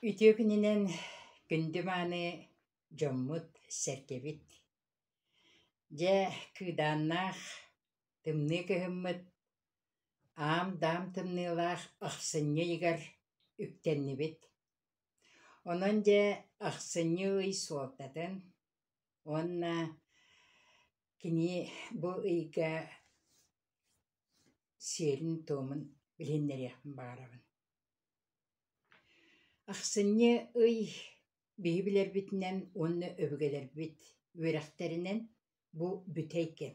Үтүө күнүнэн күндү мааны дьоммут, сэргэбит. Дьэ, кыыдааннаах, тымныы кыһыммыт, аам-даам тымныылаах ахсынньы ыйыгар үктэннибит. Онон дьэ, ахсынньы ый суолтатын уонна Кини бу ыйга сиэрин-туомун билиннэриэхпин баҕарабын. Ахсынньы ый биһи билэрбитинэн уонна өбүгэлэрбит үөрэхтэринэн бу бүтэй кэм.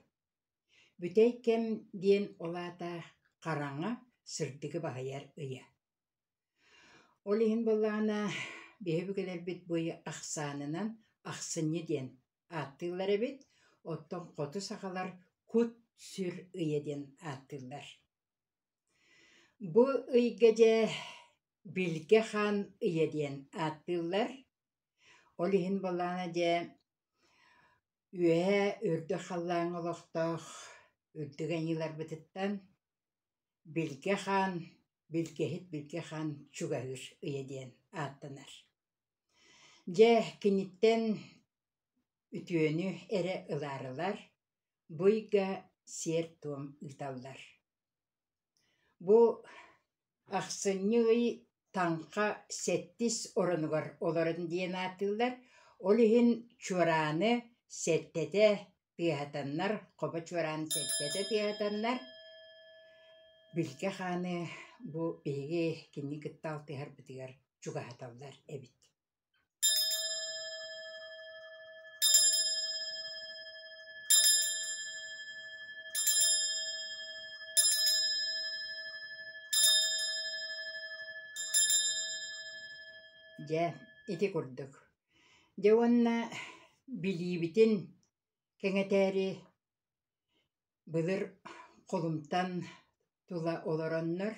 Бүтэй кэм диэн ол аата хараҥа, сырдыгы баһыйар ыйа. Ол иһин буоллаҕына биһи өбүгэлэрбит бу ыйы ахсаанынан ахсынньы диэн ааттыыллар эбит, оттон хоту сахалар «Кут-сүр ыйа» диэн ааттыыллар. Бу ыйга дьэ Билгэ хаан ыйа диэн ааттыыллар. Ол иһин буоллаана дьэ үөһээ үрдүк халлааҥҥа олохтоох үрдүк айыыларбытыттан Билгэ хаан, билгэһит Билгэ хаан чугаһыыр ыйа диэн ааттанар. Дьэ, киниттэн үтүөнү эрэ ылаарылар, бу ыйга сиэр-туом ыыталлар. Бу ахсынньы ый таҥха сэттис оронугар олорон диэн аатыыллар, ол иһин чуорааны, сэттэтэ тыаһатаннар, хобо чуораан сэлдьэтэ тыаһатаннар, Билгэ хааны бу биһиги кини кытта алтыһарбытыгар чугаһаталлар эбит Дьэ, ити курдук Дьэ уонна билиибитин кэҥэтээри былыр холумтан тула олороннор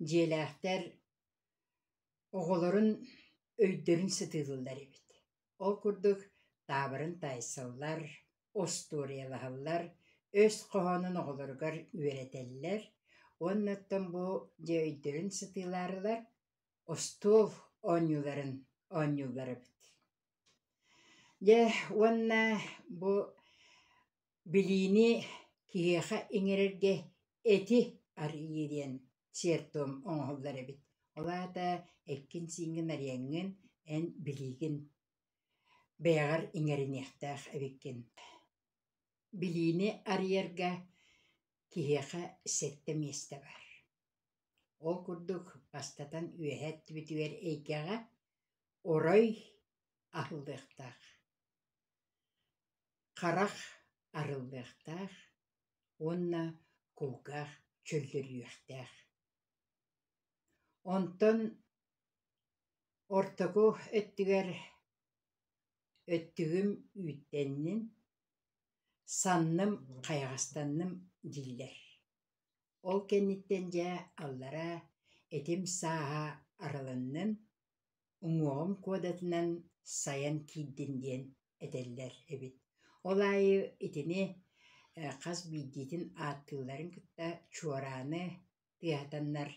дьиэлээхтэр оҕолорун өйдөрүн сытыылыыллар эбит. Ол курдук таабырын таайсаллар, остуоруйалаһаллар, өс хоһоонун оҕолоругар үөрэтэллэр. Уонна оттон бу дьиэ өйдөрүн сытыылаарылар остуол оонньууларын оонньууллар эбит. Дьэ уонна бу билиини киһиэхэ иҥэрэргэ эти арыйыы диэн сиэр-туом оҥоһуллар эбит. Ол аата эккин-сииҥҥин арыйаҥҥын, эн билиигин бэйэҕэр иҥэриниэхтээх эбиккин. Билиини арыйарга киһиэхэ сэттэ миэстэ баар. Ол курдук, бастатан үөһэ өттүбүтүгэр эйгэҕэ орой аһыллыахтаах, харах арыллыахтаах уонна кулгаах чөллөрүһүөхтээх. Онтон ортоку өттүгэр өттүгүм үүттэннин, санным хайаҕастанным дииллэр Ол кэнниттэн дьэ аллараа этим сааһа арылыннын, уҥуоҕум куодатынан сайан киирдин диэн этэллэр эбит. Ол аайы итини хас биирдиитин ааттыылларын кытта чуорааны тыаһатаннар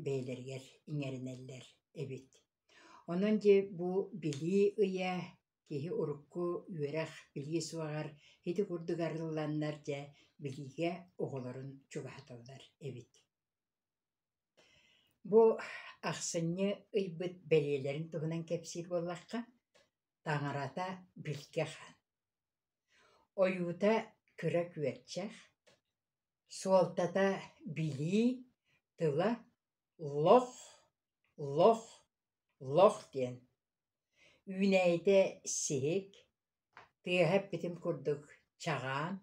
бэйэлэригэр иҥэринэллэр эбит. Онон дьэ бу билии ыйа Киһи урукку үөрэх билиэ суоҕар ити курдук арылланнар дьэ билиигэ оҕолорун чугаһаталлар эбит Бу ахсынньы ыйбыт бэлиэлэрин туһунан кэпсиир буоллахха, таҥарата билгэх. Ойуута кыра күөрчэх, суолтата билии, тыла лох, лох, лох диэн. Үүнээйитэ сиһик, тыаһа эппитим курдук чаҕаан,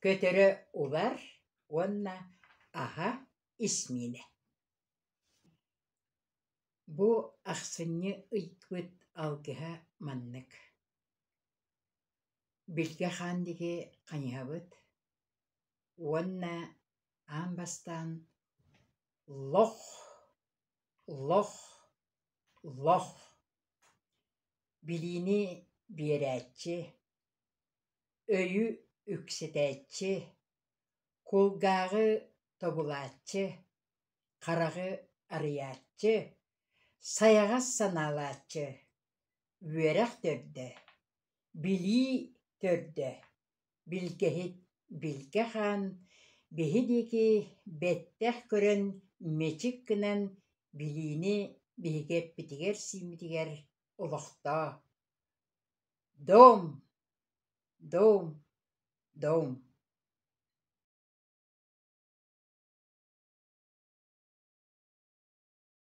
көтөрө убар уонна аһа исмиинэ. Бу ахсынньы ыйбыт алгыһа маннык: Билгэ хаан диги хайыһабыт уонна аан бастаан лох Лох, лох, билиини биэрээччи, өйү үксэтээччи, кулгааҕы тобулааччы, хараҕы арыйааччы, сайаҕас санаалааччы, үөрэх төрдө, билии төрдө Билгэһит Билгэ хаан биһи диэки бэттэх көрөн мэчик гынан билиини биһиги эппитигэр-сииммитигэр олохтоо Доум! Доум! Доум!